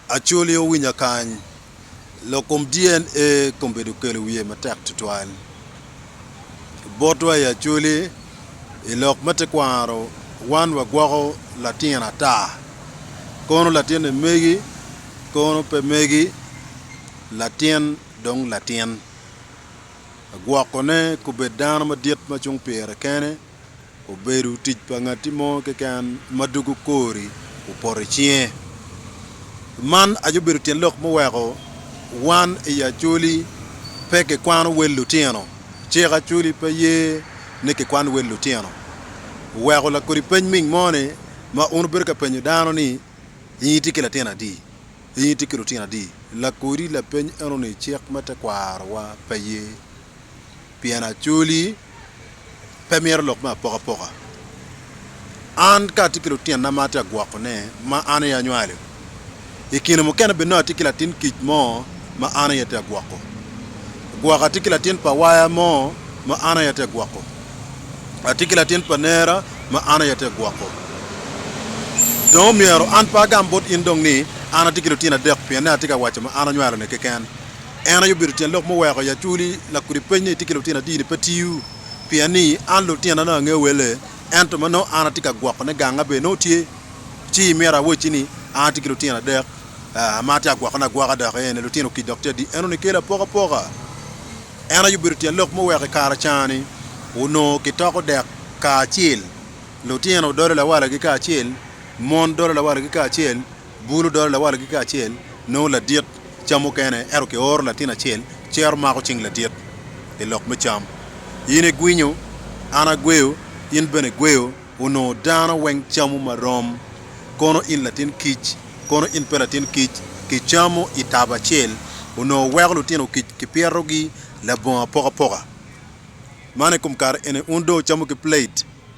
Acholi owinya kany, lok kom DNA kombedo kelo wiye matek twatwal. Botwa i Acholi, i lok me tekwaro wan wagwoko latin ata, kono latinne megi, kono pe megi, latin dong latin. Gwokone kobed dano madit ma cung pire kene. obedo tic pa ngatti mo keken ma dwogo kori opoto i cinge. Man aye obedo tyen lok muweko wan i Acholi pe kikwano wel lutino. Cik Acholi pe ye ni kikwan wel lutino. Oweko lakodi peny ming mo ni ma un wubedo ka penyo dano ni in itye ki latin adi? In itye ki lutino adi? Lakodi lapeny eno ni cik me tekwaro wa pe ye. pien acoli pe mito lok me apokapoka. An ka atye ki lutinna ma atye ka gwokone ma an aye anywalo, i kine mukene bene nongo atye ki latin kic mo ma an aye atye ka gwoko. Gwok atye ki latin pa waya mo ma an aye atye ka gwoko. Atye ki latin pa nera ma an aye atye ka gwoko. Dong omyero an pe agam bot in dong ni an atye ki lutino adek pienni atye ka waco ma an anywalo-ni keken. En aye obedo tyen lok muweko i acholi lakudi pec ni itye ki lutino adi-ni pe tiyo pien ni an lutina nongo angeyo welle ento ma nongo an atye ka gwokone ganga bene nongo tye ci imyero awacci ni an atye ki lutino adek ma atye agwokone agwoka dok ene lutino kic dok tye adi eno nikelo apokapoka en aye obedo tyen lok muweko i kare cani onongo kitoko dek kacel lutino dolo lawalagi kacel mon dolo lawalagi kacel. bulu dolo lawalogi kacel, nongo ladit cam mukene, ento kioro latin acel cito mako cing ladit i lok me cam. In igwinyo, an agweyo, in bene igweyo, onongo dano weng camo ma rom. Kono in latin kic, kono in pe latin kic, kicamo i tabo acel. Onongo weko lutino kic kipyetogi labongo apokapoka. Man i kom kare eni wun dong wucamo ki plate.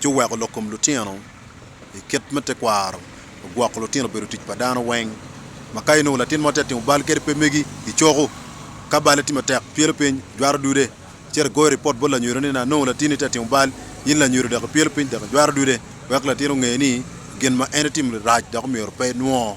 ci oweko lok kom lutino i kit me tekwaro ogwoko lutino obedo tic pa dano weng ma ka inongo latin mo tye ka timo bal kadi pe megi i coku ka balle tye matek pyelo piny jwato dude cito igoyo ripot bot lanyodo ni anongo latini tye ka timo bal in lanyodo dok ipyelo piny dok ijwato dude wek latin onge ni gin ma en itimo-ni rac dok omyero pe enwo.